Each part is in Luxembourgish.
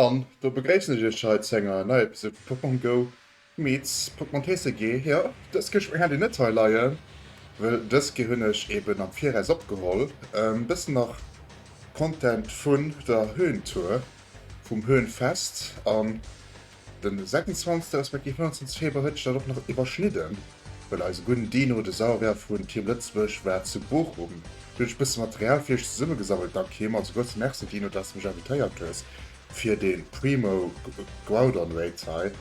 An do begréissen ech iech hei zu enger neier Episode vu Pokémon Go meets Pokémon TCG. Jo, dës Kéi spréng hat een net hei leien, wëll dës Kéi hunn ech eben am Viraus opgeholl. E bëssen nach Content vun der Höhentour, vum Höhenfest an. Den 26 respektiv 29 Februar huet sech dat och nach iwwerschnidden, well eise gudden Dino, de Sauerwehr vun Team Lëtzebuerg, war zu Bochum. Du hunn ech e bësse Material fir iech zesummegesammelt, dank him. Also grousse Merci Dino, dass de mech invitéiert hues fir de Primo Groudon Raid hei.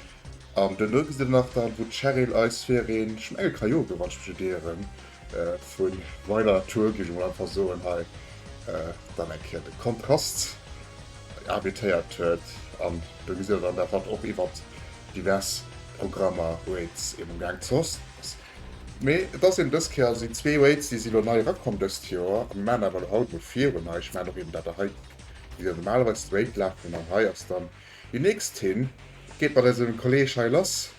An duerno gesitt der nach dann, wou d'Cheryl eis fir ee Schmengelkajot, wann ech mech net ieren, Vu weider Natur géif ech emol einfach soen, hei dann eng Kéier de Kontrast invitéiert huet. An do gesitt der dann dat, wat och iwwert divers Programmer Waits eben ugaang zoss ass. Mee et ass eben dës Kéier, also déi zwee Waits, déi si elo nei erakomm dëst Joer. An mir maachen awer elo haut emol virun hei, ech maachen och eben dat der hei gesitt, déi normalerweis de Wait lafen. An hei ass dann déi nächst, hien geet mat eisem Kolleeg hei lass.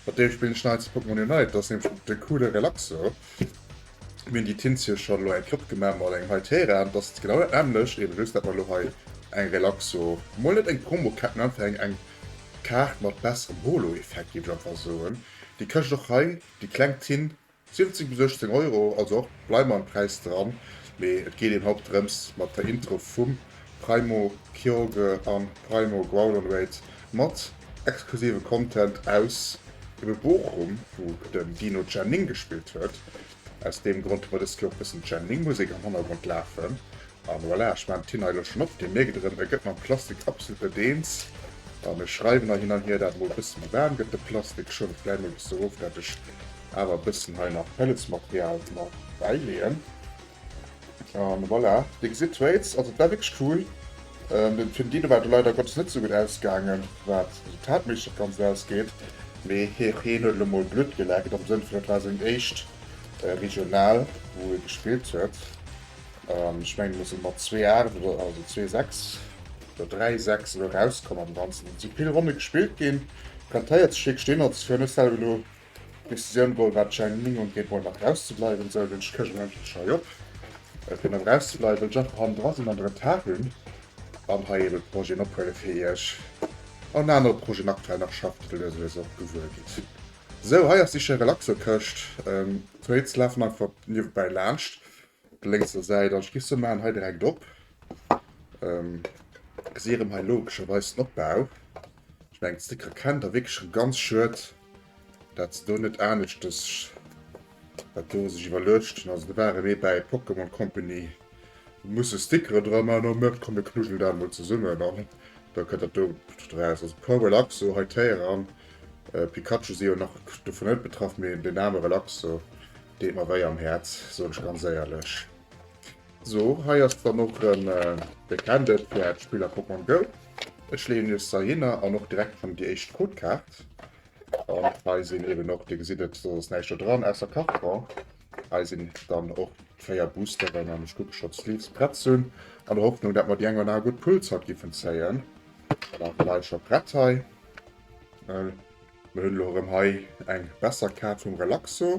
Mat deem spillen ech neits Pokémon Unite, dat ass nämlech de coole Relaxo. Mir hunn déi Tints hir scho elo eng Klopp gemaach mat engem hei Terrain, dat ass genau dat nämmlecht, eben just dat mer elo hei eng Relaxo, mol net eng Promokaart, mä einfach eng eng Kaart mat besserem Holo-Effekt géif ech einfach soen, déi kascht och hei déi kleng Tint 17 bis 18 Euro, also och bleiwen mer am Präis dran, mee et geet een haut drëms mat der Intro vum Primo Kyogre a Primo Growlonrate mat exklusive Content aus ebe Bochum, wou den Dino Chen Ning gespillt huet, aus deem Grond hu mer dës Kéier och bëssen Chen Ning Musek am Hannergrond lafen, An voilà, ech maan d'Tina elo schon op, deen mierkt erem e get mam Plastik absolut net eens, an ech schreiwen hei hin an hier dat mol e bessen méi waarm get de Plastik, schuel e vläit mol e bessen erof dat ech awer e bessen hei nach Pelletsmaterial mat bäileeën. An voilà, dir gesidd Tweets, also dat war wierklech cool. Den Film Dino war do leider Gottes net sou gudd ausgaangen waat d'Resultatméisseg op d'ganzt ausgeet, mee hee heen huet elo mol Bludd geleckt am Sënn vun et war seng éischt Regional wou hie gespillt huet. An ech mengen mir sinn mat zwee Aacht oder also zwee Sechs oder dräi Sechs elo erauskomm am Ganzen. Et si vill Ronne gespillt ginn. Plantéiert Stéck stinn der ze fir mech selwer elo. Decisioun Goal war d'Jang Ning un géint Moll mat rauszebleiwen. Sou den Schëschen endlech schei op fir mat rauszebleiwen. Well ech einfach hannen dra sinn an de Retard hunn. An hei eben Projeten ophuele fir iech an anere Projeten aktuell nach schaffen, datt der deser deels och gewuer gitt. Sou hei ass déi schéi relaxo Këscht. D'Tweets lafen einfach niewebäi laanscht. op der lénkser Säit an ech giff se man hei direkt op gesi erem hei logescherweis den Opbau ech mengen Sticker kennt der wierklech erem ganz schued dat se do net aneschtes dat do sech iwwerluecht hun also do ware mir bäi Pokémon Company musse Stickere dra man an huet komm mir knuddelen dat mol zesummen an da kënnt dat do draus also Pro Relaxo hei d'Héieren Pikachu si jo nach dovun net betraff mee den Name Relaxo Deet mer wéi am Häerz, soen ech ganz éierlech. So, hei ass dann och rem de Candle fir äert Spill a Pokémon Go. Ech leeën iech se heihinner an och direkt schon déi éischt Codekaart. An hei sinn eben och, dir gesitt et, do ass näischt do dran ausser Carton. Hei sinn dann och d'véier Boosteren an ech kucke schon d'Sleeves prett ze hunn, an der Hoffnung dat mer déi eng oder aner gutt Pull-Zort giffen zéien. Voilà, d'Leit scho prett hei. Mir hunn elo erëm hei eng besser Kaart vum Relaxo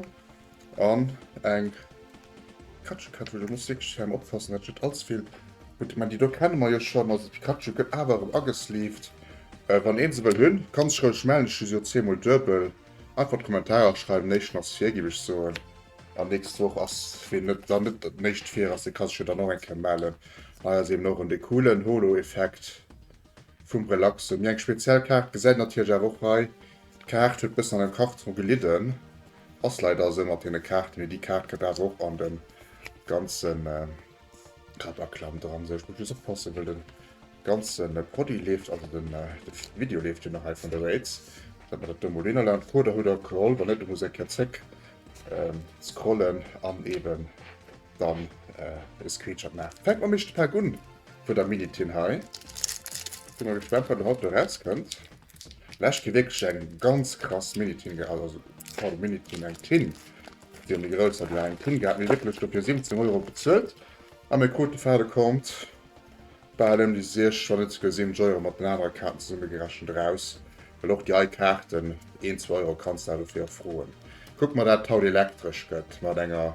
an eng Pikachu-Kaart, wou ech muss wierklech hei oppassen, dat net allze vill. Gutt, ech mengen, déi do kenne mer jo schonn. Also d'Pikachu gëtt awer erëm agesleeved. Wann een se wëll hunn, ka sech roueg mellen. Ech hu se jo zweemol duebel. Einfach an d'Kommentarer schreiwen, Néichten ass vir, giff ech soen. An nächst Woch ass, ween net dann net Néischt vir ass, dee ka sech jo dann och eng Kéier mellen. Hei ass eben och erëm dee coolen Holo-Effekt. vum Relaxe mir eng speziell Kaart gesäit natierlech awer och hei d'Kaart huet bëssen an dem Karton gelidden ass leider esou mat den Kaarten mee déi Kaart gëtt awer och an dem ganzen Klapperklam dran sou ech muss just oppassen well den ganzen Produit leeft also den Video leeft jo nach hei vun der Rates dat mer dat do mol hin erlaben d'Coder hutt der geholl wann net muss eng Kéier zréck scrollen an eben dann äh, e Screenshot machen. Fängt man mich Pack un von der Minitin hei. Bin mal gespannt, wann der Hot rauskommt. Lesch gi wirklich eng ganz krass Minitin gehabt, also voll Minitin eng Tin. Die haben die größer die eng Tin gehabt, mir wirklich dafür 17 Euro bezahlt. An mir kruten Faden kommt bei allem die 6, schon nicht sogar 7 Euro mit den anderen Karten zusammengerechnet raus. Weil auch die alle Karten 1, 2 Euro kannst du dafür frohen. Guck mal, dat haut elektrisch gëtt mat enger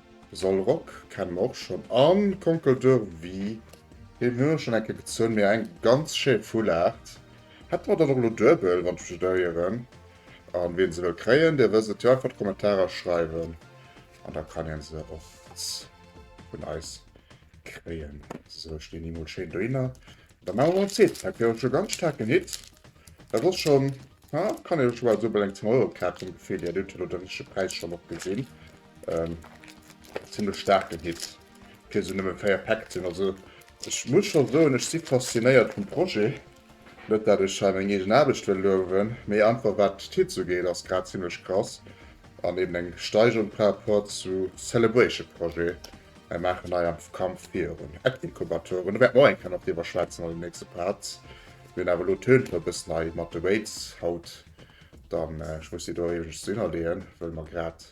Solrock kennen mer och schon an Conquer d'Urvie. Deen hun ech schon eng Kéier gezun, mee eng ganz schéin Foulard. Hätte mer dann och elo duebel, wann ech mech net erieren. An ween se wëll kréien, dee wësst et jo, einfach Kommentarer schreiwen an da kann een se och vun eis kréien. Sou, ech leen déi mol schéin dohinner. Da maan mer mol en zweeten Pack. Wier och schon ganz staarken Hit. Dat ass schon, kann een scho bal souwel eng 10 Euro Kaart vum Gefill hier. Dir hutt jo elo den richtege Präis schon och gesin. ähm, ziemlich starken Hit fir se nëmme feier Pack sinn also Ech muss schon so ech si faszinéiert vum Projekt net dat ech scha eng egen Aarbecht well lowen, méi einfach wat d'Hit zu geet ass grad ziemlichlech krass an eben eng Steigerung par rapport zu Celebration Projekt Ech maachen nei am Kampf virun App-Inkubatoren, do wäert mer och eng Kéier nach driwwer schwätzen an den nächste Parts. Mir hunn awer elo d'Tönt e bëssen hei mat de Weights haut dann ech muss déi do iergendst do hinnerleeën, well mer grad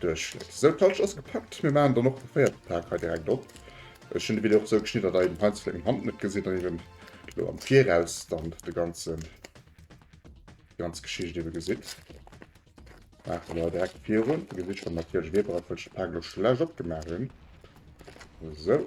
Duerchschnëtt. Sou d'Halscht ass gepackt. Mir maachen dann och de véierte Pak hei direkt op. Ech hunn de Video och sou geschnidden, datt der eben heinst vläit meng Hand net gesitt an eben elo am Viraus dann de ganzen, déi ganz Geschicht eben gesitt. Maache mer direkt virun. Dir gesitt schonn natierlech Weber, op wëllechem Pak ech elo schonn laanscht opgemaach hunn. Sou.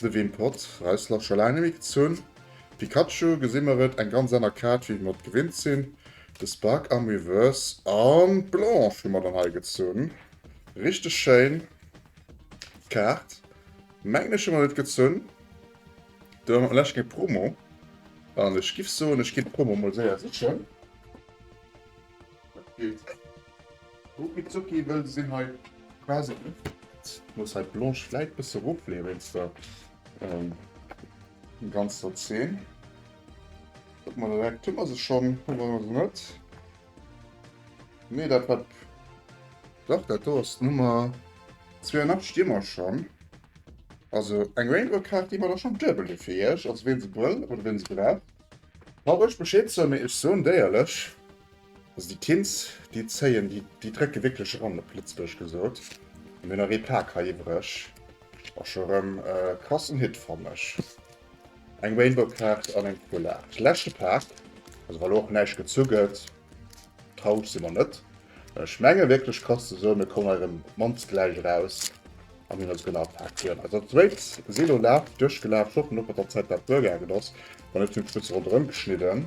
De Wim Pot, Reissler, scho laang nemmi gezunn. Pikachu gesi mer et eng ganz anner Kaart wéi mer et gewinnt sinn. De Spark am Reverse an d'Blanche hu mer dann hei gezunn. Richteg schéin Kaart. Mengen ech hu mer et gezunn. Do hu mer vläch keng Promo an ech giff soen ech ginn d'Promo mol séier sichen. Ruckizocki wëll sinn hei quasi muss hei d'Blanche vläit bësse ruffléi wéinst der ganzer Zeen. Kucke mer direkt, hu mer se schonn, hu mer se net? Nee, dat wat, dach dat do ass d'Nummer 82 sti mer schonn. Also eng Rainbow-Kaart gi mer da schonn duebel fir iech. Also wien se wëll oder wien se brauch, brauch iech Bescheed soen, mee ech soen déierlech, Also déi Tints déi zéien, déi drécke wierklech eran, op Lëtzebuerg gesot. Mir hunn nach ee Pak hei iwwereg, och scho erëm e krassen Hit fann ech. Eng Rainbow Kaart an eng Full Art. Leschte Pak, also wa lo och näischt gezu gëtt, traureg si mer net. Ech menge wierklech krass ze soen, mir kommen hei erëm op d'mannst gläich eraus an hunn also genau d'Pak duerno. Also dat zweet si lo laf duerchgelaf, scho hoffen och mat der Zäit dat duergaangen ass, wann net hunn ech e bësse ronderëm geschnidden.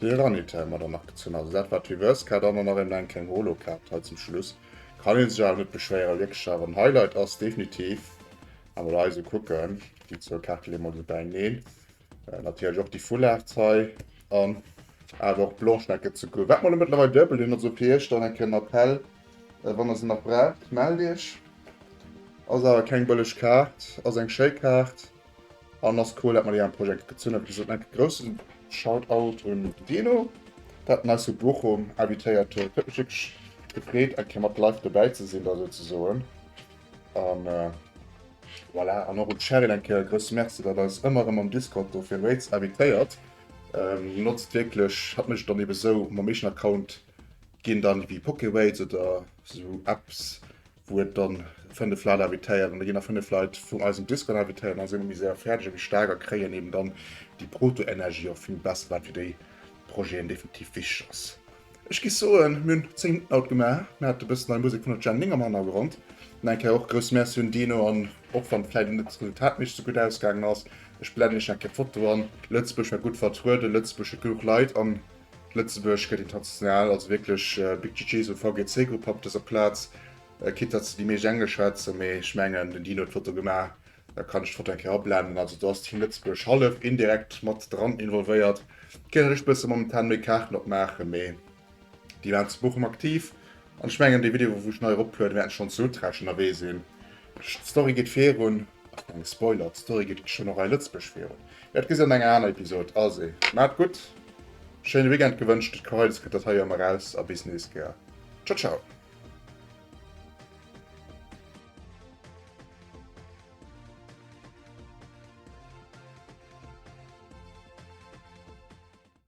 Déi Ranitelle mat an agezuun, also dat wat d'Reverse Card an dann nach eben eng kleng Holo Card hei zum Schluss. Kann een sech awer net beschwéieren, wierklech awer en Highlight ass definitiv, a mol hei esou kucken, déi zwou Kaarte leeë mer esou bäineen, natierlech och déi Full Arts hei an awer och d'Blanche Neck gëtt ze kuck. Wat mol e mëttlerweil duebel hunn, also fir iech dann eng Kéier en Appell, wann der se nach braucht, mellt iech. Ass awer keng bëlleg Kaart, ass eng schéi Kaart. An ass cool dat mer déi am Projekt gezunn hunn. Esou enke groussen Shoutout un Dino dat den eis vu Bochum invitéiert huet. Huet mech wierklech gefreet eng Kéier mat live dobäi ze sinn da souzesoen an voilà. An och un d'Sheryl eng Kéier e grousse Merci dat eis ëmmer erëm am Discord do fir Raids invitéiert. Notzt wierklech hatt mécht dann eben esou mam eegenen Account ginn dann ewéi Pokeraids oder esou Apps. wou et dann 5 Leit invitéiert an da ginn nach 5 Leit vun eisem Discord invitéiert an da si mer méi séier fäerdeg a méi staark a kréien eben dann déi Protoenergie och vill besser, wat fir déi Projeten definitiv wichteg ass. Ech gi soen, mir hunn 10 Minutten haut gemaach, mir hate bëssen nei Musek vun der Jen Ling am Hannergrond. An eng Kéier och e grousse Merci un Dino an och wann vläicht net als Resultat méi sou gutt ausgaangen ass, ech blenden iech nach eng Kéier d'Foto an, Lëtzebuerg war gutt vertrueden, Lëtzebuerg huet genuch Leit an Lëtzebuerg gëtt international als wierklech Big GG, esou VGC Grupp op dëser Plaz, quitte datt se déi meescht Englesch schwätzen, mee ech mengen den Dino huet d'Foto gemaach, da kann ech d'Foto eng Kéier ablenden. Also do ass Team Lëtzebuerg hallef indirekt mat dran involvéiert. Géif ech bësse momentan méi Kaarten opmaachen, mee déi waren zu Bochum aktiv. An ech mengen déi Videoen wou ech nei erop lueden wäerten schonns sou trash ënnerwee sinn. D'Story geet virun. Ach deng Spoiler, d'Story geet schonn och hei Lëtzebuerg virun. Jo et gesi an enger aner Episode. Alsé maat gutt, schéine Weekend gewënscht. Et Karaidis gëtt dat hei jo emmer raus a bis nees gär. Ciao ciao.